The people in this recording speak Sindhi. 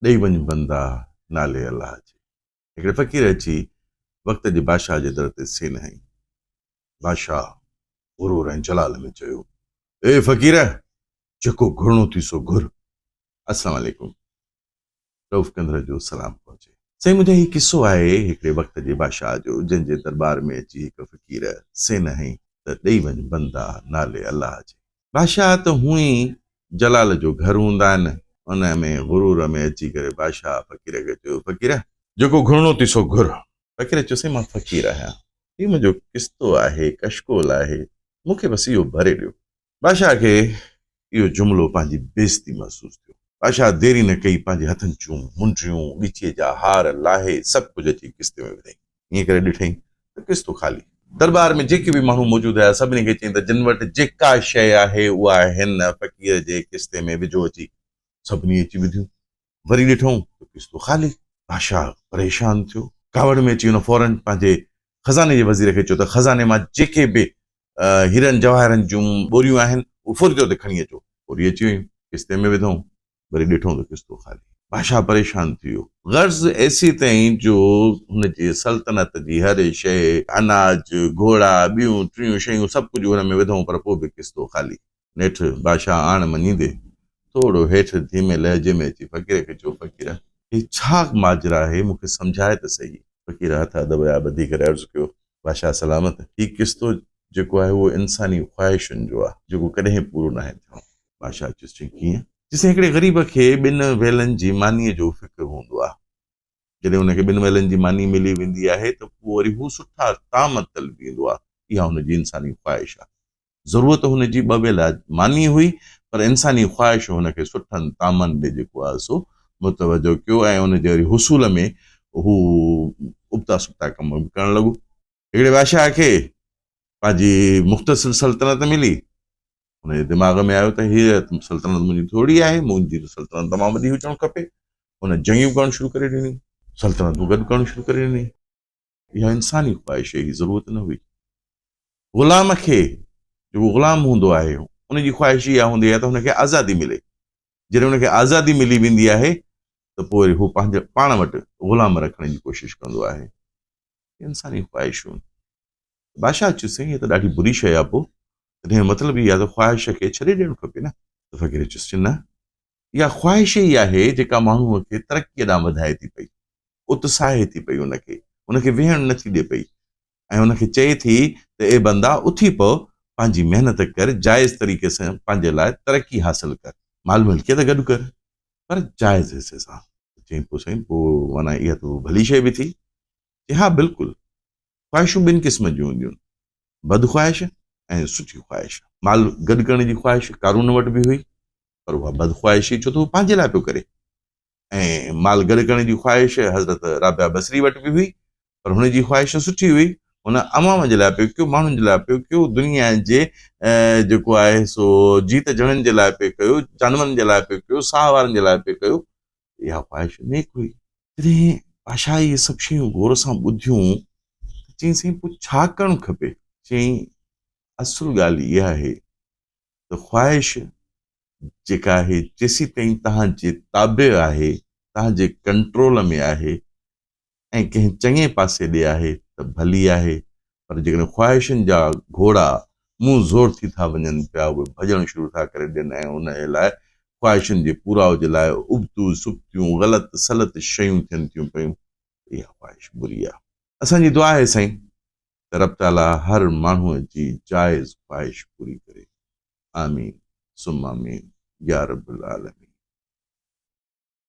ڏئي وڃ بندا نالي الله جي هڪڙي فقير اچي وقت جي بادشاهه جي در تي سين هنئي. بادشاهه غرور ۽ جلال ۾ چيو، اي فقير! جيڪو گهرڻو ٿي سو گهر. السلام عليڪم. رئوف ڪنڌر جو سلام پهچي. سائين منهنجا هي قصو آهي هڪڙي وقت جي بادشاهه جو جنهن جي درٻار ۾ اچي هڪ فقير سين هنئي ته ڏئي وڃ بندا نالي الله جي. بادشاهه ته هونئن ئي جلال جو گهر هوندا آهن. ان ۾ غرور ۾ اچي ڪري بادشاهه فقير کي چيو، فقير! جيڪو گهرڻو ٿي سو گهر. فقير چيو، سائين مان فقير آهيان. هي منهنجو ڪستو آهي، ڪشڪول آهي، مون کي بس اهو ڀري ڏيو. بادشاهه کي اهو جملو پنهنجي بيعزتي محسوس ٿيو. بادشاهه ديري نه ڪئي، پنهنجي هٿن جون منڊيون، ڳچيء جا هار لاهي، سڀ ڪجهه اچي ڪستي ۾ وڌائين. ائين ڪري ڏٺئين ته ڪشتون خالي. درٻار ۾ جيڪي به ماڻهو موجود هيا، سڀني کي چيائين ته جن وٽ جيڪا شيء آهي، اها هن فقير جي ڪشتي ۾ وجهو اچي. سڀني اچي وڌيون. وري ڏٺئون ته ڪشتون خالي. بادشاهه پريشان ٿيو. ڪاوڙ ۾ اچي هن فورن پنهنجي خزاني جي وزير کي چيو ته خزاني مان جيڪي به هيرن جواهرن جون ٻوريون آهن، اهي فوري طور تي کڻي اچو. فوري اچي ويون، ڪشتي ۾ وڌئون. وري ڏٺو ته ڪستو خالي. بادشاهه پريشان ٿي ويو. غرض ايسي تائين جو هن جي سلطنت جي هر شيء، اناج، گهوڙا، ٻيون ٽيون شيون سڀ ڪجهه هن ۾ وڌئون پر پوء به ڪستو خالي. نيٺ بادشاهه آڻ مڃيندي ٿورو هيٺ ڌيمي لهجي ۾ اچي فقير کي چيو، فقير! هي ڇا ماجرا آهي، مون کي سمجهاء ته سهي. فقير هٿ ادب جا ٻڌي ڪري عرض ڪيو، بادشاهه سلامت! هي ڪستو جيڪو آهي اهو انساني خواهشن جو آهي، جيڪو ڪڏهن پورو ناهي ٿيڻو. بادشاهه چيس چيائين ڪيئن؟ چيسين هڪڙي غريب کي ٻن ويلن جي مانيء جو فڪر هوندو آهي. جڏهن هن کي ٻن ويلن جي ماني ملي ويندي آهي ته پوء وري هو سٺا طعام طلبي ايندو آهي. اها هن جي انساني خواهش آهي. ضرورت هن جي ٻه ويلا ماني هئي پر انساني خواهش هن کي سٺن طعامن ڏي جيڪو آهي سو متوجهه ڪيو ۽ ان جي وري حصول ۾ هو ابتا سبتا ڪم به ڪرڻ لڳو. هڪڙي بادشاهه کي پنهنجي مختصر سلطنت ملي ان جي دماغ ۾ آيو ته هيء سلطنت منهنجي ٿورڙي آهي منهنجي ته سلطنت تمام وڏي هجڻ کپي هن جنگيون ڪرڻ شروع ڪري ڏني سلطنتون گڏ ڪرڻ شروع ڪري ڏني اها انساني خواهش جي ضرورت نه هئي غلام کي جيڪو غلام هوندو آهي ان جي خواهش اها هوندي آهي ته هن کي آزادي ملي جڏهن هن کي آزادي ملي ويندي آهي ته پوء هو پنهنجو پاڻ وٽ غلام رکڻ جي ڪوشش ڪندو آهي انساني خواهشون بادشاهه چيو سائين هي ته ڏاڍي بري شيء آهي پوء تڏهن مطلب اهي آهي ته خواهش کي ڇڏي ڏيڻ کپي نه فقير چيس چي نه اها خواهش ئي آهي جيڪا ماڻهوء کي ترقيء ڏانهن وڌائي ٿي پئي اتساهي ٿي پئي ان کي ان کي ويهڻ نٿي ڏي پئي ۽ ان کي چئي ٿي ته اي بندا اٿي پو پنهنجي محنت ڪر جائز طريقي سان پنهنجي لاء ترقي حاصل ڪر مال ملڪيت گڏ ڪر پر جائز حصي سان. چيائين پوء سائين پوء معنيٰ اها ته ڀلي شيء به ٿي؟ چي ها بلڪل. خواهشون ٻن قسم جون هونديون، بد خواهش ۽ سٺي خواهش. مال گڏ ڪرڻ جي خواهش قارون وٽ به هئي پر اها بد خواهش هئي ڇو ته هو پنهنجي لاء پيو ڪري ۽ مال گڏ ڪرڻ جي خواهش حضرت رابعه بصري وٽ به هئي پر هن جي خواهش سٺي هئي، هن عوام جي لاء پيو ڪيو، ماڻهن جي لاء پيو ڪيو، دنيا جي جيڪو آهي سو جيت جڻن جي لاء پيو ڪيو، جانورن جي لاء پيو ڪيو، ساهه وارن جي لاء پيو ڪيو، اها خواهش نيڪ هئي. جڏهن بادشاهه اهي سڀ شيون غور سان ٻڌيون ته چيائين سائين پوء ڇا ڪرڻ کپي؟ چيائين اصل ڳالهه اها آهي ته خواهش جيڪا آهي جيسيتائين توهان جي تابع آهي، توهان جي ڪنٽرول ۾ آهي، ۽ ڪنهن چڱي پاسي ڏي آهي ته ڀلي آهي، پر جيڪڏهن خواهشن جا گهوڙا منهن زور ٿي ٿا وڃن پيا، اهي ڀڄڻ شروع ٿا ڪري ڏين ۽ انهيء لاء، خواهشن جي پورائو جي لاء، ابتو سبتيون، غلط سلط شيون ٿين ٿيون پيون ته اها خواهش بري آهي. اسان جي دعا آهي سائين ته رب تعاليٰ هر ماڻهوء جي جائز خواهش پوري ڪري. آمين ثم آمين يارب العالمين.